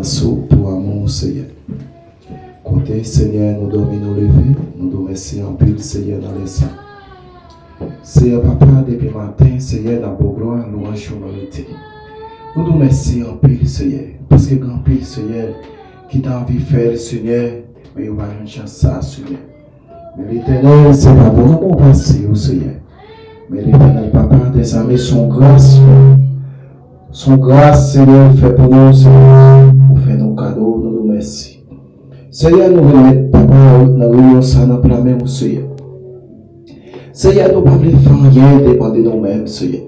Sou pou amou ou Senyè. Kote Senyè nou dòmi nou leve nou do mèsi anpil Senyè nan lè sa. Seyè papa depi maten Seyè nap baw glwa lwanj ou merite. Nou do mèsi anpil Seyè paske gen anpil Seyè ki ta anvi fèl Senyè men yo pa jwenn chans sa Senyè. Men Letènèl se pa bon lanmou ou pase yo Senyè men Letènèl papa dèzame son gras yo son gras Senyè ou fè pou nou se pou nou ou fè nou kado nou do mèsi Senyè nou remèt papa nan reyon sa nan pla men ou Senyè Senyè nou pa vle fè anyen depan de nou menm Senyè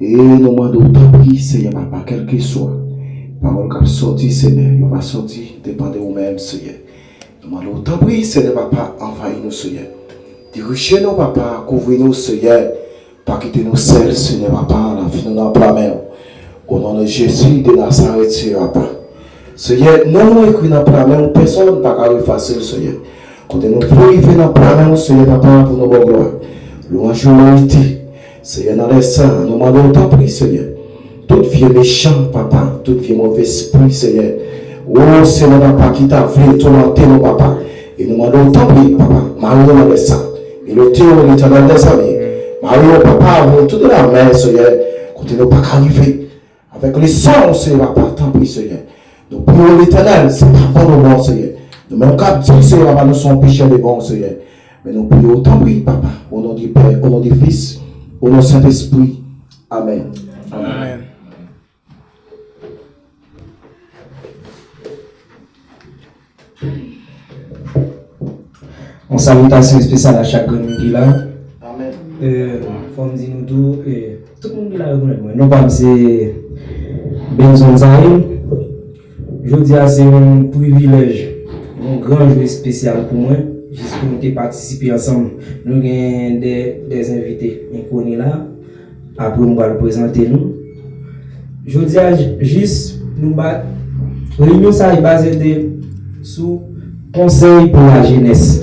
e nou mande ou tanpri Senyè papa kèlkeswa pawòl kap sòti Senyè yo pa sòti depan de ou menm Senyè. Nou mande w tanpri Senyè papa anvayi nou Senyè dirije nou papa kouvri nou Senyè pa kite nou sèl Senyè papa lavi nou nan pla men w o non de Jezi de Nazarèt Senyè papa Senyè non nou ekri nan pla men w pèsòn pa ka efase l Senyè kote nou pou rive nan pla men w Senyè papa pou nou ba w glwa louwanj e merite. Senyè nan lè sa a nou mandew tanpri senyè tout vye mechan papa tout vye move spri senyè o senyè papa ki ta vle toumante nou papa e nou mandew tanpri papa mare yo nan lè sa milete yo letènèl mezanmi mare yo papa avni tout de la mè senyè kote nou paka rive Avèk leson ou Seyè papa tanpri Seyè nou priyew letènèl se papa nou bon Seyè nou menm kap diw Seyè papa nou son pechè devanw Seyè men nou priyew tanpri papa o non de pè o non de fis o non sentespri amèn. Yon salitasyon espesyal a chak grenn moun ki la. Fò m di nou tou, tout moun ki la rekonèt mwen. Non pa m se Benson Zaïn. Jodi a se yon privilèj, yon gran jou espesyal pou mwen. Jis pou nou te patisipe ansanm. Nou gen de envite enkoni la. Apre m pral prezante nou. Jodi a jis nou ba Reyinyon sa yo baze de sou konsèy pou lajenès.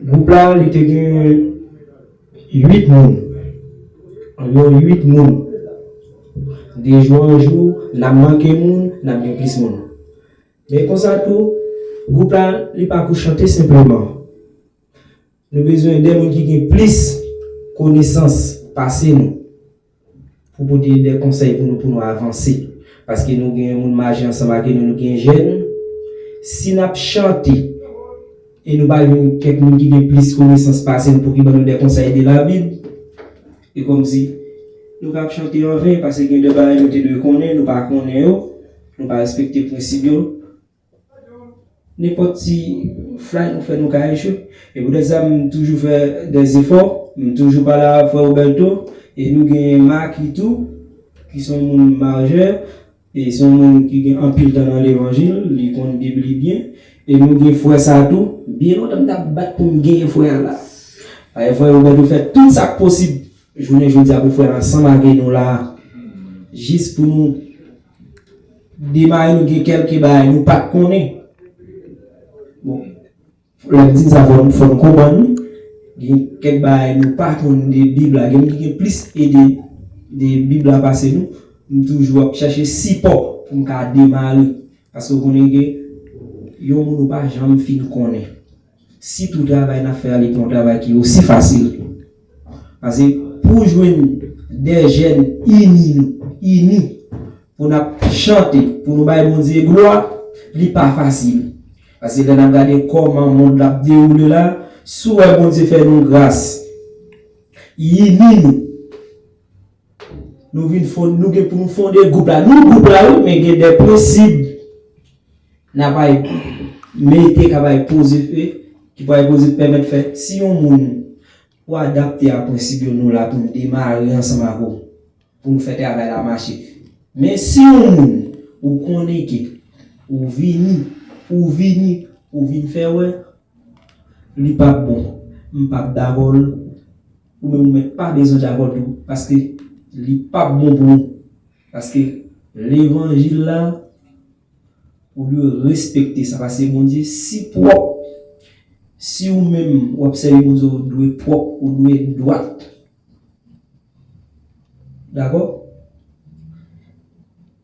Gwoup la li te gen 8 moun. Anviwon 8 moun. De jou an jou n ap manke moun, n ap gen plis moun. Men konsa tou, gwoup la li pa pou chante senpleman. Nou bezwen de moun ki gen plis konesans pase nou pou pote de konsèy pou nou pou nou avanse. Paske nou gen moun maje ansanm ake nou, nou gen jèn. Si n ap chante e nou pa jwenn kèk moun ki gen plis konesans pase nou pou ki ban nou de konsèy de labib, e kòmsi nou ka ap chante anven. Pase gen de bagay nou te dwe konnen, nou pa konnen yo, nou pa respekte prensib yo, Nenpòt ti flay nou fè nou ka echwe. E pou tèt sa m toujou fè dè zefò. M toujou pale avèk frè Roberto. E nou genyen Marky tou, ki se yon moun majè. E se yon moun ki gen anpil tan nan levanjil. Li konn bib li byen. E nou gen frè sa tou. Byen lontan m t ap bat pou m genyen frè a la. Paske frè Roberto fè tout sa k posib jounen jodi a pou frè a ansanm ave nou la a. Jis pou nou Demare nou gen kelke bagay nou pat konnen bon lèm di sa fòm konprann nou gen kèk bagay nou pa konn de bib la gen moun ki gen plis ide de bib la pase nou m toujou ap chache sipò poum ka demare paske ou konnen gen yon moun ou pa janm fin konnen. Sitou travay nap fè a li pa yon travay ki osi fasil tou. Pase pou jwenn 2 jèn ini nou, ini pou nap chante, pou nou bay Bondye glwa, li pa fasil. Pase lè nap gade kòman mond la ap dewoule la, si w wè Bondye fè nou gras, ini nou, Nou vin fon, nou gen pou nou fonde gwoup la. Nou gwoup la wi, men gen de prensib n ap al mete k ap al poze, ki pou al poze pèmèt fè si yon moun pou adapte a prensib yo nou la pou n demare ansanm ak ou pou n fè travay la mache. Men si yon moun ou konnen ke ou vini, ou vini pou w vin fè wè li p ap bon, m p ap dakò l. Ou menm ou mèt pa bezwen djabòl tou paske li pap bon pou ou paske levanjil la ou dwe respekte sa paske Bondye si pwòp si ou menm wap sèvi Bondye ou dwe pwòp ou dwe dwat. Dakò?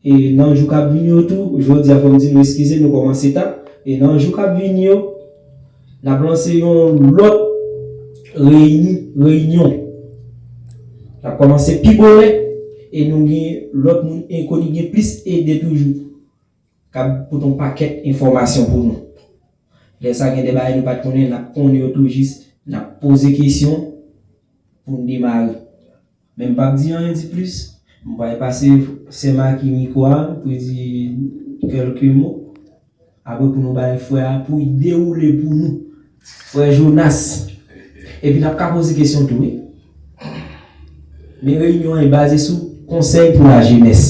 E nan jou k ap vini yo tou, jodi a fò m di nou eskize nou kòmanse ta, e nan jou k ap vini yo, n ap lanse yon lòt reyini, reyinyon. N ap kòmanse pi bonè e nou gen lòt moun enkoni, gen plis ede toujou. Kap pote yon pakèt enfòmasyon pou nou. Lè sa gen de bagay nou pat konnen nap konnen yo tou jis nap poze kesyon poun demare. Men m pap di anyen di plis, m pwal pase sè Maki mikwo a pou li di kèlke mo. Apre pou nou bay frè a pou li dewoule pou nou. Frè Jonas, epi nap ka poze kesyon tou wi. Men reyinyon an li baze sou konsèy pou lajenès.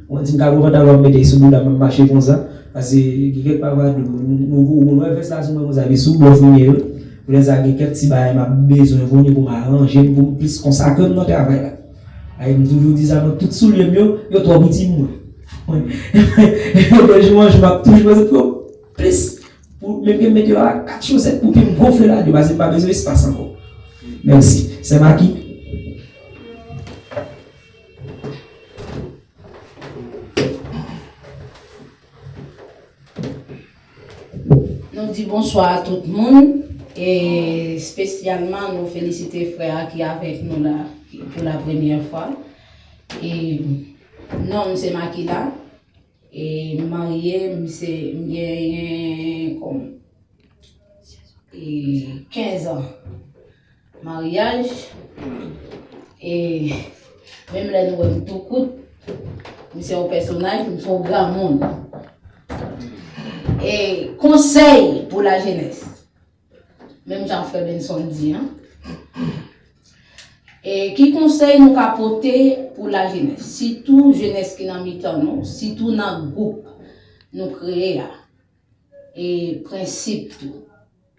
Mwen dim kago pantalon ap mete sou boudam map mache konsa pase gen kèk pavadou nou gou mwen wè vès la sou mwen konsa epi sou bòz mwen yo koulè sa gen kèk ti bagay map bezwen kounye poum aranjem poum plis konsakrem nan travay la ayy m toujou di sa mwen tout soulyem yo yo twò piti pou mwen mwen mwen de jou an jou map toujou bezwen pran plis pou menm kem met yo a 4 chosèt pou pim gonfle la de pase m pa bezwen espas ankò mèsi sè maki. Nou di bonswa a tout moun e spesyalman nou felisite frè a ki avèk nou la pou la premyè fwa. E nonm se Makila. E m marye, m se, m genyen kòm e 15 an maryaj. E menm lè nou wè m tou kout, m se yon pèsonaj, m se yon granmoun. E konsèy pou lajenès. menm jan frè Benson di an, e ki konsèy nou ka pote pou lajenès, sitou jenès ki nan mitan nou, sitou nan gwoup nou kreye a? E prensip tou.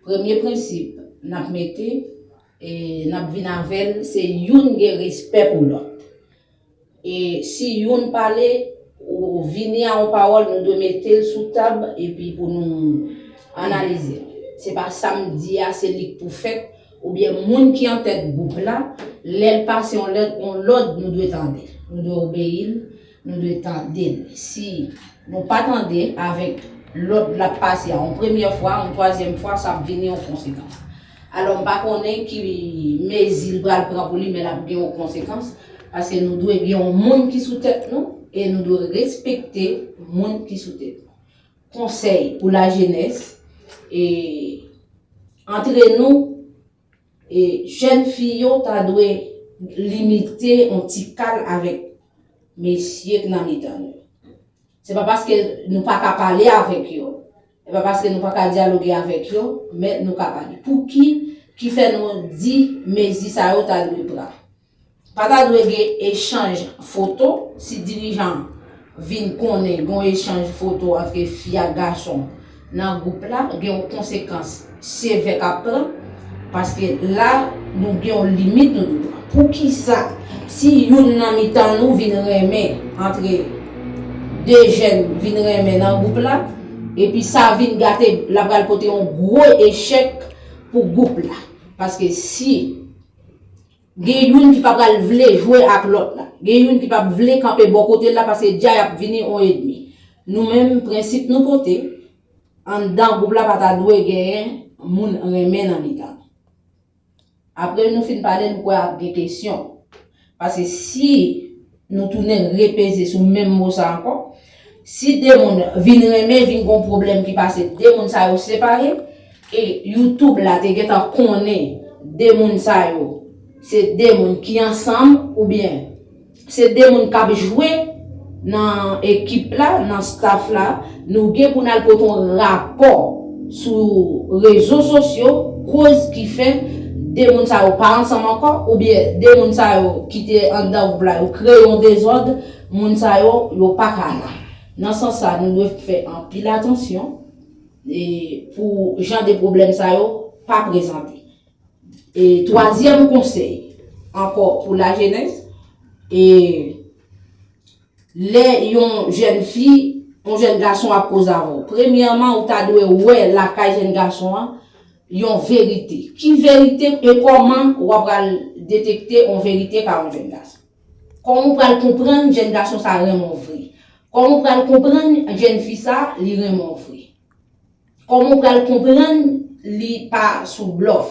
Premye prensip n ap mete, e n ap vin avè l, se youn gen respè pou lòt. E si youn pale, ou vini a yon pawòl, nou dwe mete l sou tab epi pou nou analize l. Se pa sa m di a se li k pou fèt, oubyen moun ki antèt gwoup la, lè l pase yon lèt, yon lòd nou dwe tande. Nou dwe obeyi l, nou dwe tande l. Si nou pa tande avèk lòd l ap pase a yon premyè fwa, yon twazyèm fwa, sa ap vini yon konsekans. Alò m pa konnen ki mezi li pral pran pou li men l ap gen yon konsekans paske nou dwe gen yon moun ki sou tèt nou e nou dwe respekte moun ki sou tèt nou. Konsèy pou lajenès e antre nou e jèn fi yo ta dwe limite yon ti kal avèk mesye k nan mitan nou. Se pa paske nou pa ka pale avèk yo. E pa paske nou pa ka dyaloge avèk yo, men nou ka pale. Pouki ki fè nou di mezi sa yo ta dwe pran? Pa ta dwe gen echanj foto, si dirijan vin konnen gen yon echanj foto antre fi ak gason nan gwoup la, gen yon konsekans. Se vè kap pran, paske la nou gen yon limit nou dwe pran. Poukisa si youn nan mitan nou vin renmen antre 2 jèn vin renmen nan gwoup la, epi sa vin gate la pral pote yon gwo echèk pou gwoup la. Paske si gen youn ki pa pral vle jwe ak lòt la, gen youn ki pap vle kanpe bò kote l la paske dja yap vini yon edmi. Nou menm prensip nou pote, Anndan gwoup la pa ta dwe genyen moun renmen nan mitan nou. Apre nou fin pale m kwè ap gen kesyon. Paske si nou tounen repeze sou menm mo sa ankò, si 2 moun vin renmen vin gon pwoblèm ki pase 2 moun sa yo separe e YouTube la te gentan konnen 2 moun sa yo se 2 moun ki ansanm oubyen Se 2 moun k ap jwe nan ekip la, nan staff la. Nou gen pou n al pote yon rapò sou rezo sosyo, koz ki fè 2 moun sa yo pa ansanm ankò, oubyen 2 moun sa yo ki te anndan gwoup la yo kreye yon dezòd, moun sa yo, yo pa ka la. Nan sans sa, nou dwe fè anpil atansyon pou jan de pwoblèm sa yo pa prezante. E twazyèm konsèy ankò pou lajenès, e lè yon jèn fi, yon jèn gason ap koze avè w, premyèman ou ta dwe wè lakay jèn gason an yon verite. Ki verite e kòman w ap pral detekte yon verite pa yon jèn gason? Kòman ou pral konprann jèn gason sa renmen w vre? Kòman ou pral konprann jèn fi sa li renmen w vre? Koman ou pral konprann li pa sou blòf?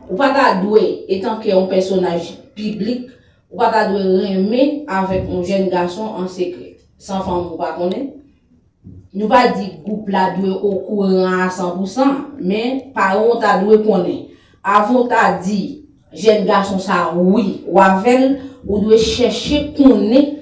Ou pa ta dwe, etanke yon pèsonaj piblik, ou pa ta dwe renmen avèk yon jèn gason an sekrè, san fanmi w pa konnen? Nou pa di gwoup la dwe okouran a san pou san, men paran w ta dwe konnen. Avan w ta di jèn gason sa a wi w avè l, ou dwe chèche konnen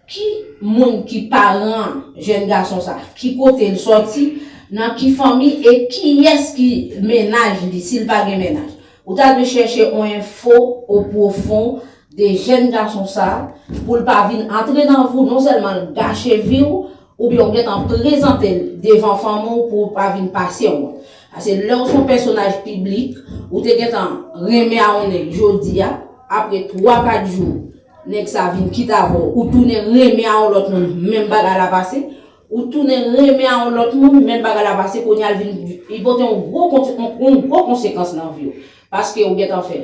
Ki moun ki paran jèn gason sa? Ki kote l sòti? Nan ki fanmi? E kiyès ki mennaj li si l pa gen mennaj? Ou ta dwe chèche on enfo o pwofon de jèn gason sa pou l pa vin antre nan vou non sèlman l gache vi w oubyen w gentan prezante l devan fanmi w pou w pa vin pase wont. Pase lè w s on pèsonaj piblik, ou te gentan renmen a on nèg jodi a, apre twa kat jou Nèg sa vin kite avè w, ou tounen renmen a on lòt moun, menm bagay la pase. Ou tounen renmen a on lòt moun, menm bagay la pase, kounya l vin, li pote on gwo kont, on gwo konsekans nan vi w. Paske ou gentan fè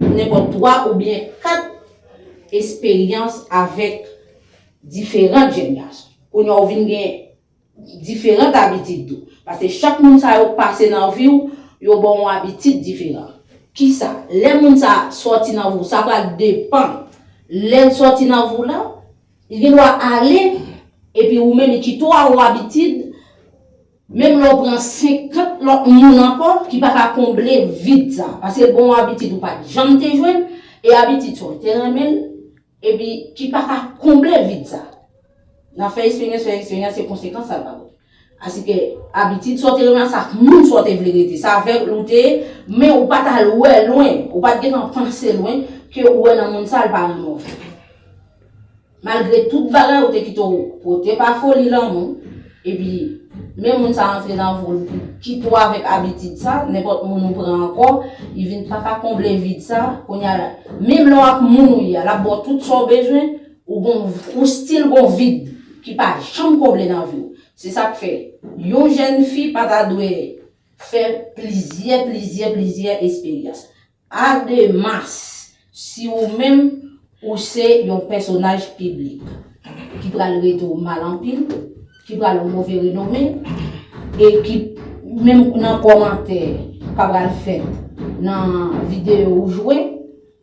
nenpòt 3 oubyen 4 esperyans avèk diferant jèn gason. Kounya ou vin gen. diferant abitid tou. Paske chak moun sa yo pase nan vi w, yo ban w abitid diferan. Kisa? Lè moun sa a sòti nan vi w, sa pral depan lè l sòti nan vi w lan, li gen dwa ale epi ou menm li kite w a ou abitid, menm lè w pran 50 lòt moun ankò ki pa ka konble vid sa a. Paske l ban w abitid ou pa t janm te jwenn e abitid sa w te renmen l, epi ki pa ka konble vid sa a nan fè esperyans fè esperyans se konsekans sa ka pote asike abitid sa w te renmen an sa ak moun sa w te vle rete sa avèk l ou te ye men ou pa t al wè lwen ou pa t gentan panse lwen ke ou wè nan moun sa a l pa renmen w vre malgre tout bagay ou te kite w pote pa foli lanmou. Epi, menm moun sa antre nan vo l pou kite w avèk abitid sa, nenpòt moun ou pran ankò, li vin pa ka konble vid sa, kounye a, menm lè w ak moun ou ye a, l ap ba w tout sa w bezwen, ou gon, ou stil gon vid ki pa janm konble nan vi w. Se sa k fè, yon jèn fi pa ta dwe fè plizyè, plizyè, plizyè esperyans. Ademas, si ou menm ou se yon pèsonaj piblik ki pral rete ou mal anpil, ki pral ou move renome, e ki menm nan kòmantè ka pral fèt nan videyo ou jwe,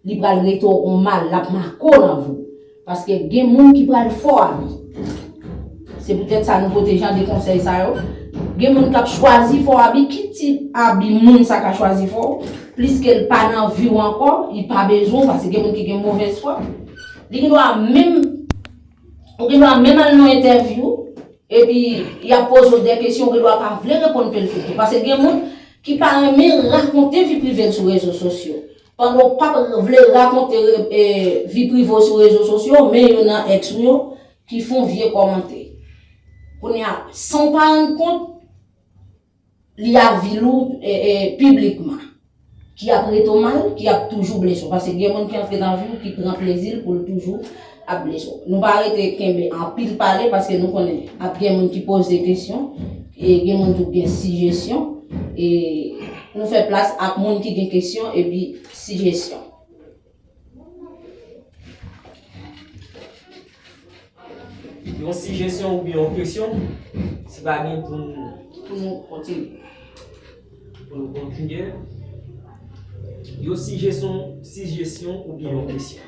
li pral rete ou mal, l ap make w nan vi w. Paske gen moun ki pral fò a vi. Se poutèt sa nou pote jan de konsèy sa yo. Gen moun k ap chwazi fò a bi. Ki tip a bi moun sa ka chwazi fè w? Pliske l pa nan vi w ankò, li pa bezwen w, paske gen moun ki gen movèz fwa. Li gen dwa menm, ou gen dwa menm al nan entèvyou, epi y ap poze w de kesyon, ou gen dwa pa vle reponn ke l fouti. Paske gen moun ki pa renmen rakonte vi prive l sou rezo sosyo. Pandan w pap vle rakonte vi prive w sou rezo sosyo, men yo nan ex ou yo ki fon vye komante. Kounya san w pa rann kont, li ap vil ou piblikman. Ki ap rete w mal, ki ap toujou blese w. Paske gen moun ki antre nan vi w ki pran plezi l pou l toujou. Nou pa rete kenbe anpil pale paske nou konnen ap gen moun ki poze kesyon e gen moun tou k gen sijesyon e nou fè plas ak moun ki gen kesyon epi sijesyon. Yon sijesyon oubyen yon kesyon si pa gen pou nou kontinye. Yon sijesyon oubyen yon kesyon.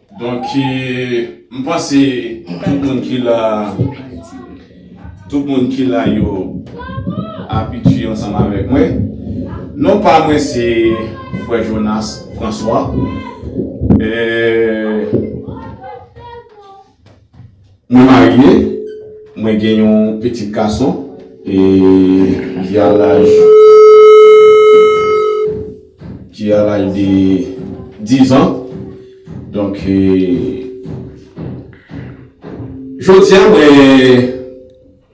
Donk m panse tout moun ki la tout moun ki la yo abitye ansanm avèk mwen. Non pa mwen se frè Jonas François. Mwen marye, mwen gen yon pitit gason e ki a laj ki a laj de 10 an. Donk e jodi a mwen.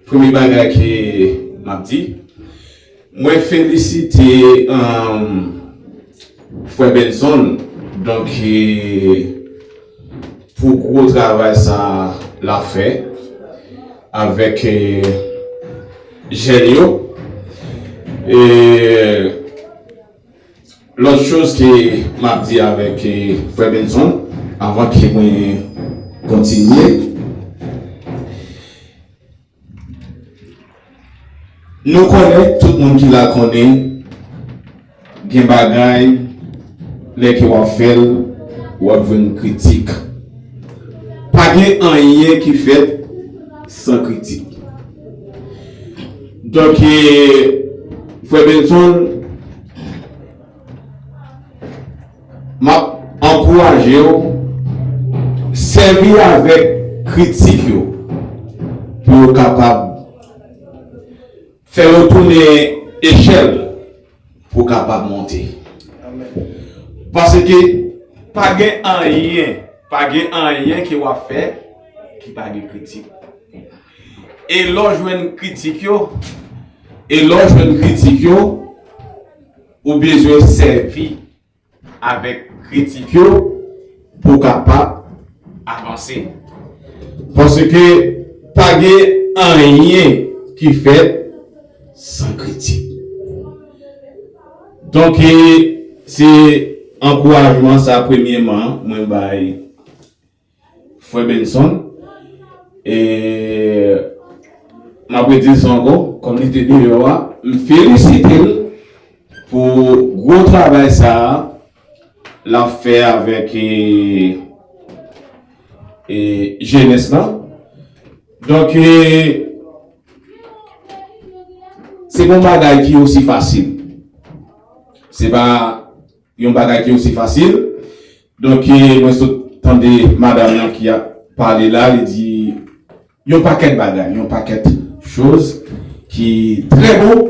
Premye bagay ke map di mwen felisite frè Benson donk pou gwo travay sa lap fè avèk jèn yo. Lòt choz ke m ap di avèk frè Benson avan ke mwen kontinye, nou konnen, tout moun ki la konnen, gen bagay lè ke w ap fè l, w ap jwenn kritik. Pa gen anyen ki fèt san kritik. Donk e frè Benson map ankourajew sèvi avèk kritik yo pou yo kapab fè yo tounen echèl pou w kapab monte. Paske pa gen anyen, pa gen anyen ke wap fè ki pa gen kritik. E lè w jwenn kritik yo, e lè w jwenn kritik yo, ou bezwen sèvi avèk kritik yo pou w kapab avanse. Paske pa gen anyen ki fèt san kritik. Donk se ankourajman sa premyeman mwen bay. Frè Benson, e m ap redil sa ankò, kòm li te deyò a, m felisitel pou gwo travay sa a l ap fè avèk jenès la. Donk, se pa yon bagay ki osi fasil. Se pa. Yon bagay ki osi fasil. Donk mwen sot tande madam lan ki ap pale la, li di yon pakèt bagay, yon pakèt choz ki trè bon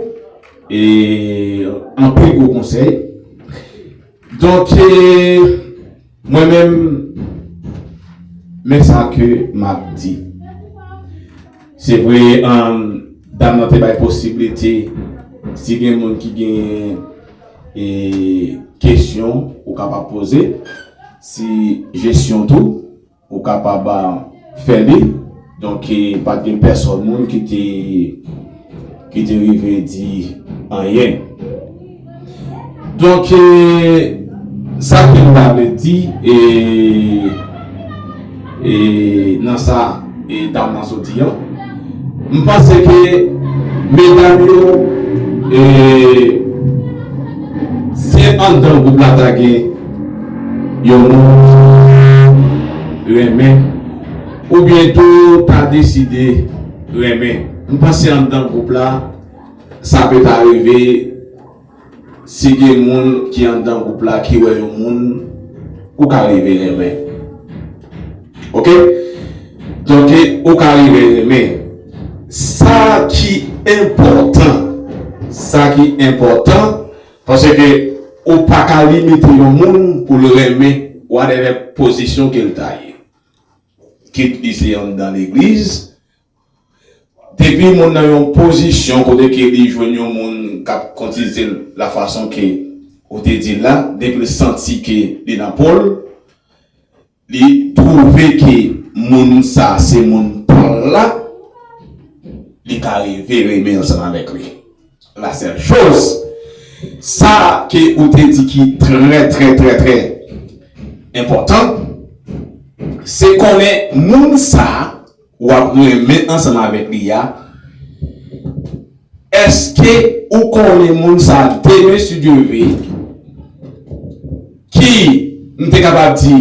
e anpil gwo konsèy. Donk. Mwen menm, men sa ke m ap di. Se vre, dam nan te bay posiblite, si gen moun ki gen kesyon, ou kapab poze. Si jesyon tou, ou kapab. fè li, donk pa t gen pèsòn moun ki te ki te rive di anyen donk sa ke m ta vle di e e nan sa e dam nan soti an. M panse ke medam yo si andan gwoup la ta gen yon moun ki renmen oubyen tou ta deside renmen m panse andan gwoup la sa pe ta rive. Si gen moun ki anndan gwoup la ki wè yon moun ou ka rive renmen ok donke ou ka rive renmen sa ki enpòtan sa ki enpòtan paske ou pa ka limite yon moun pou l renmen whatever pozisyon ke l ta ye kit li se anndan legliz Depi moun nan yon pozisyon kote ke li jwenn yon moun kap kontiltel la fason ke ou te dil la, depil santi ke li nan pol, li twouve ke moun sa se moun pal la, li ka rive renmen ansanm avèk li. La sèl choz, sa ke ou te di ki trè trè trè trè enpotan, se konnen moun sa w ap renmen ansanm avèk li a èske ou konnen moun sa demen si Dye ve ki m te kapab di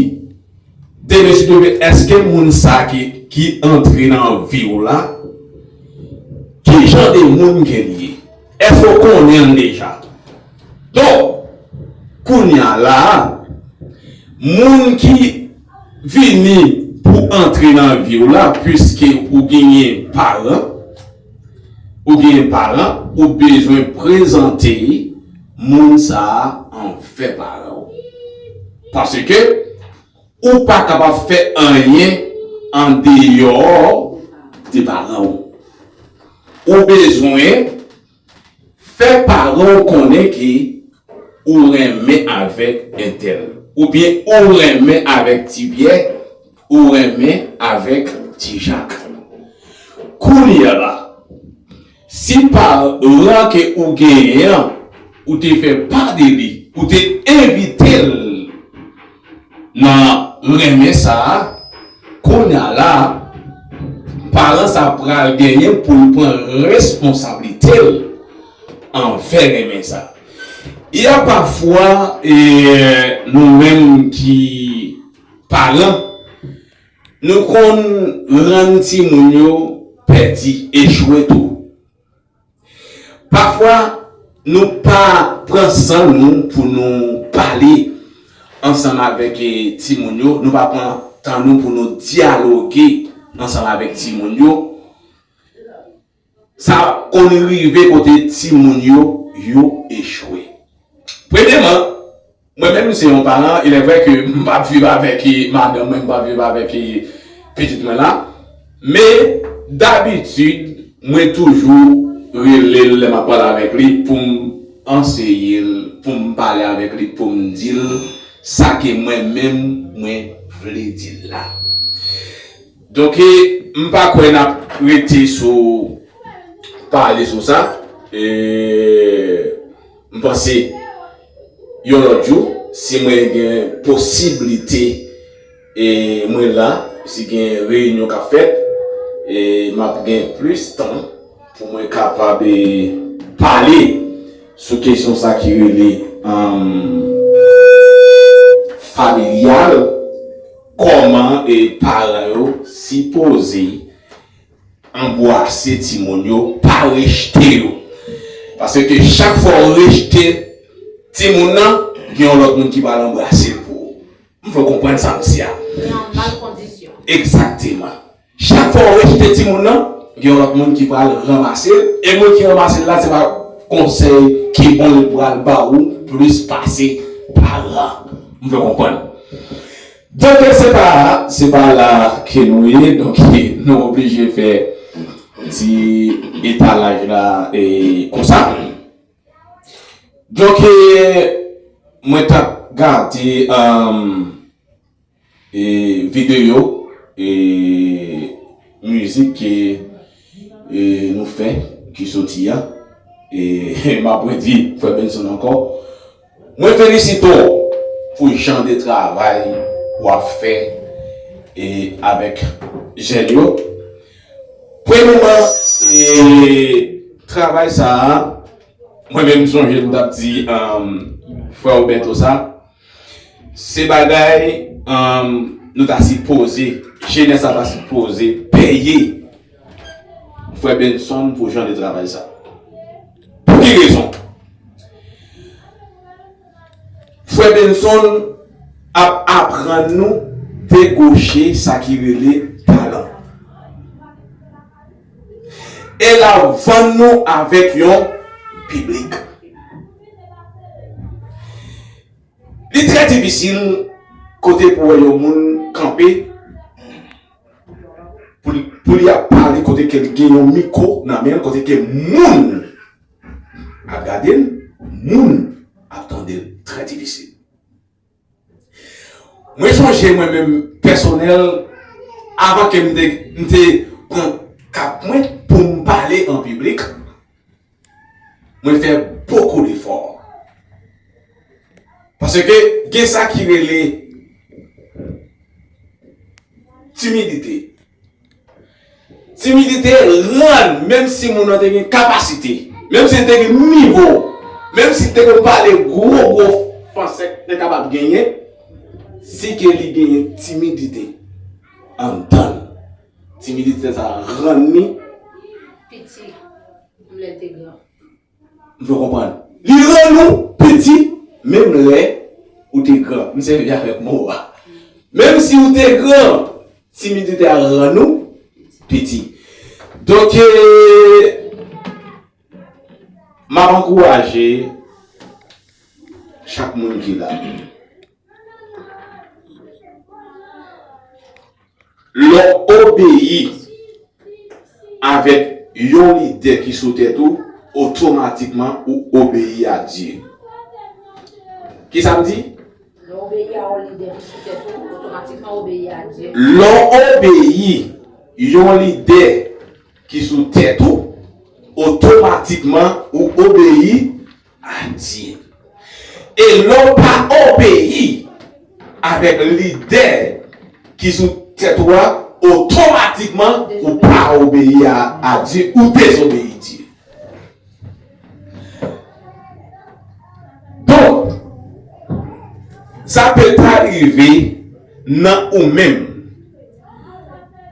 demen si Dye ve èske moun sa ki antre nan vi w la ki jan de moun ke li ye. Èske w konnen l deja? Donk, kounye a la a, moun ki vini pou antre nan vi w la, piske ou genyen paran, ou genyen paran, ou bezwen prezante moun sa a anvè paran w. Paske, Ou pa kapab fè anyen andeyò de paran ou. Ou bezwen fè paran ou konnen ke ou renmen avèk entèl. Oubyen ou renmen avèk Ti Pyè, ou renmen avèk Ti Jak. Koulye la. Si pa ran ke ou genyen an ou te fè pa de li, ou te envite l nan renmen sa a, kounya la a, paran sa a pral genyen pou l pran responsablite l anvè renmen sa a. Y a pafwa e nou menm ki paran. Nou konn rann timoun yo pèdi, echwe tou. Pafwa nou pa pran san nou pou nou pale ansanm avèk timoun yo, nou pa pran tan nou pou nou dyaloge ansanm avèk timoun yo. Sa konn rive kote timoun yo yo echwe. Premyeman, mwen menm m se yon paran, ilèvrè ke m pa p viv avèk madanm mwen, m pa p viv avèk pitit mwen la, men dabitid mwen toujou rele l lè m ap pale avèk li pou m anseye l, pou m pale avèk li, pou m di l sa ke mwen menm mwen vle di l la. Donk m pa kwè nap rete sou pale sou sa m panse yon lòt jou si mwen gen posiblite e mwen la si gen reyinyon kap fèt map gen plis tan pou mwen kapab pale sou kesyon sa ki rele familyal. Kòman paran yo sipoze anbwase timoun yo, pa rejte yo. Paske chak fwa ou rejte timoun nan, gen yon lòt moun ki pral anbrase l pou ou. M vle w konprann sa m di a. Li an mal kondisyon. Egzakteman. Chak fwa ou rejete timoun nan, gen yon lòt moun ki pral ranmase l, e moun ki ranmase l la se pa konsèy ki bon li pral ba ou plis pase paran. M fè w konprann? Donk se pa, se pa la ke nou ye, donk nou oblije fè ti etalaj la e konsa. Donk mwen t ap gade E video e mizik ke e nou fè ki soti a e map redi frè Benson ankò mwen felisite w pou jan de travay wap fè e avèk jèn yo premyeman e travay sa mwen menm sonje m tap di frè w Bertho sa. Se bagay Nou ta si poze Jenès la ta si poze Peye Frè Benson pou jan de travay sa Pou ki rezon Frè Benson ap aprann nou Degoche sa ki rele Talan E la ou vann nou avèk yon piblik. Li trè difisil kote pou wè yon moun kanpe pou li ap pale kote ke li gen yon miko nan men l, kote ke moun ap gade l, moun ap tande l. Trè difisil. Mwen sonje mwen menm pèsonèl avan ke m te m te pran kap mwen pou m pale an piblik, mwen fè bokou defò. Paske gen sa ki rele timidite. Timidite rann menm si moun nan te gen kapasite, menm si li te gen nivo, menm si li te konn pale gwo gwo franse te kapab genyen, si ke li genyen timidite anndan l, timidite sa rann li piti lè l te gran. M fè w konprann. Li rann ou piti menm lè ou te gran. M sèvi avèk mo a. Menm si ou te gran, timidite a rann ou piti. Donk, m ap ankouraje chak moun ki la. Lè w obeyi avèk yon lide ki sou tèt ou, otomatikman ou obeyi a Dye. Ki sa m di? Lè w obeyi a yon lide ki sou tèt ou, otomatikman ou obeyi a Dye. Lè w obeyi yon lide ki sou tèt ou, otomatikman ou obeyi. Adye. E lè w pa obeyi avèk lide ki sou tèt ou a, otomatikman ou pa obeyi a Dye, ou dezobeyi Dye. Donk, sa pè ta rive nan ou menm.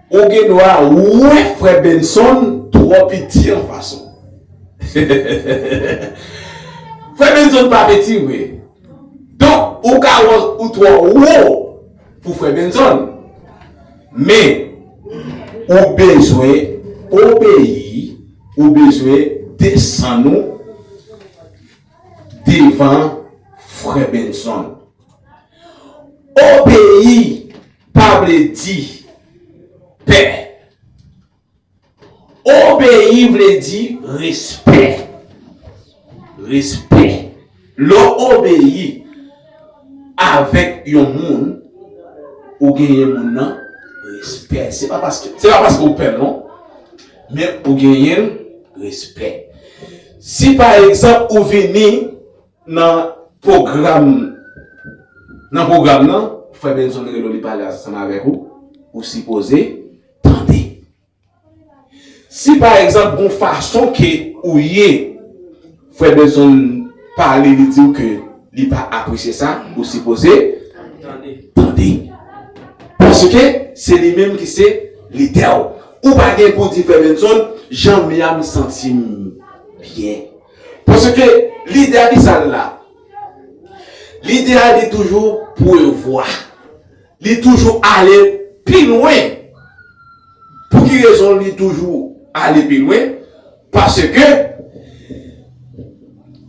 Ou gen dwa wè frè Benson twò piti an fason. Frè Benson pa piti vre. Donk ou ka wè ou twò wo pou frè Benson. Men ou bezwen obeyi, ou bezwen desann ou devan frè Benson. Obeyi! Pa vle di pè. Obeyi vle di respè. Respè. Lè w obeyi avèk yon moun, ou genyen moun nan respè. Se pa paske ou pè l non. Men ou genyen l respè. Si pa egzanp ou vini. Nan pwogram Nan pwogram nan, frè Benson rele w li pale ansanm avèk ou, ou sipoze tande. Si pa egzanp gon fason ke ou ye, frè Benson pale li di w ke li pa apresye sa, ou sipoze tande. Paske se li menm ki se lidè w. Ou pa gen pou di frè Benson, jan m ya m santi m byen. Paske lide a ki sa l la? Lide a li toujou prevwa. Li toujou ale pi lwen. Pou ki rezon li toujou ale pi lwen? Paske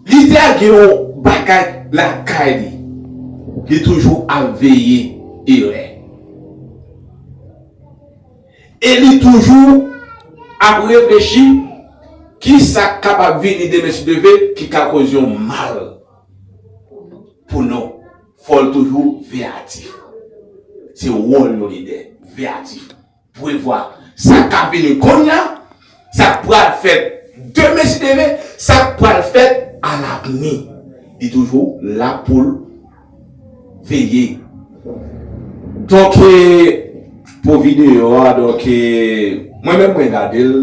lide a gen yon bagay lakay li. Li toujou ap veye erè. E li toujou ap reflechi kisa k kapab vini demen si Dieu veut ki ka koz yon mal pou nou. Fò l toujou veyatif. Se wòl yon lidè, veyatif, prevwa sa k ap vini konnya. Sa k pral fèt demen si Dieu veut, sa k pral fèt a lavni. Li toujou la pou l veye. Donk pou videyo a donk mwen menm mwen gade l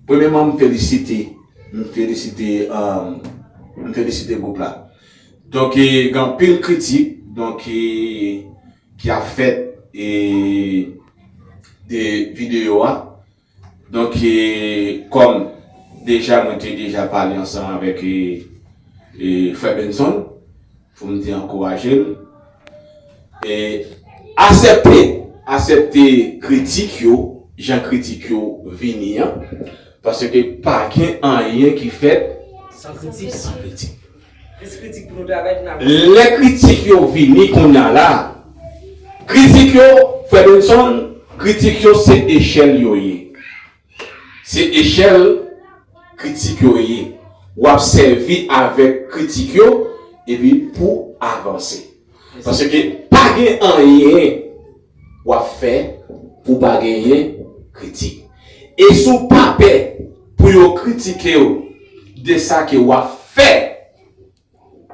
premyeman m felisite m felisite m felisite gwoup la donk gen anpil kritik donk ki ap fèt de videyo a. Donk kòm deja mwen te deja pale ansanm avèk frè Benson pou m te ankouraje l, asèpte asèpte kritik yo jan kritik yo vini an paske pa gen anyen ki fèt san kritik. Plis kritik pou nou travay pou n ap. Lè kritik yo vini kounya la kritik yo frè Benson kritik yo se echèl yo ye se echèl kritik yo ye wap sèvi avèk kritik yo epi pou avanse. Paske pa gen anyen w ap fè pou w pa genyen kritik. E si w pa pè pou yo kritike w de sa ke w ap fè,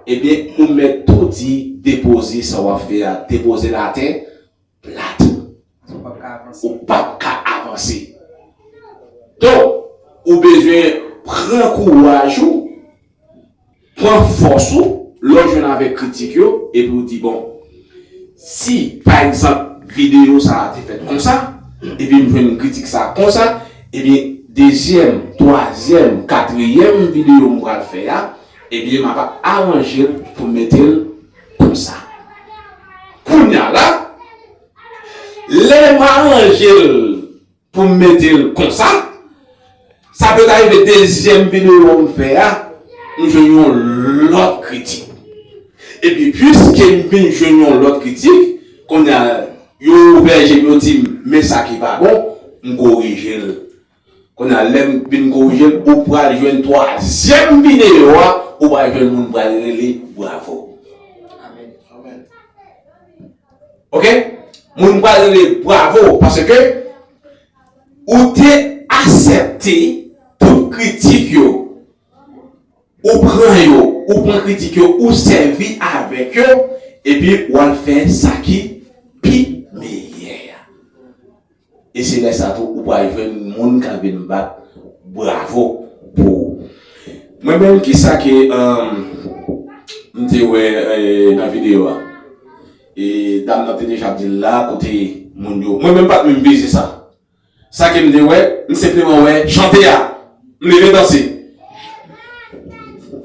ebyen ou mèt tou di depoze sa w ap fè a, depoze l atè, plat. Ou pap ka avanse. Ou pap ka avanse. Donk, ou bezwen pran kouraj ou, pran fòs ou, lè ou jwenn avèk kritik yo, epi ou di bon, si pa egzanp videyo sa a te fèt konsa, epi m jwenn kritik sa a konsa, ebyen dezyèm, twazyèm, katriyèm videyo m pral fè a, ebyen m ap aranje l pou m mete l. pou sa. Kounya la, lè m aranje l pou m mete l konsa, sa pèt arive dezyèm videyo m fè a, m jwenn yon lòt kritik. Epi piske m vin jwenn yon lòt kritik, kounya yo ouvè je m yo di m men sa ki pa bon, m korije l. Kounya lèm vin korije ou pral jwenn twazyèm video a ou pral jwenn moun pral rele bravo ok moun pral rele bravo paske ou te asèpte tout kritik yo ou pran yo ou pran kritik yo ou sèvi avèk yo epi wal fè sa ki pi meyè. E se lè sa tou ou pral jwenn moun kap vin bat bravo pou ou. Mwen menm kisa ke m te wè nan video a? E dam nan te deja ap dil la kote moun yo. Mwen menm pat menm vize sa. Sa ke m te wè, m senpleman wè chante a. M leve danse.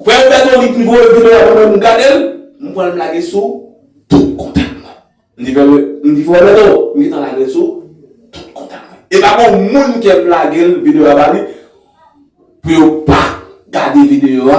Freo Berthony pi voye video a mwen menm m gadel, m pranl m lage sou tout kontak mwen. Li di frè mwen, m di frè mwen non, m gentan lagel sou tout kontak mwen. E pa gon moun kem lagel video a ba li pou yo pa gade video a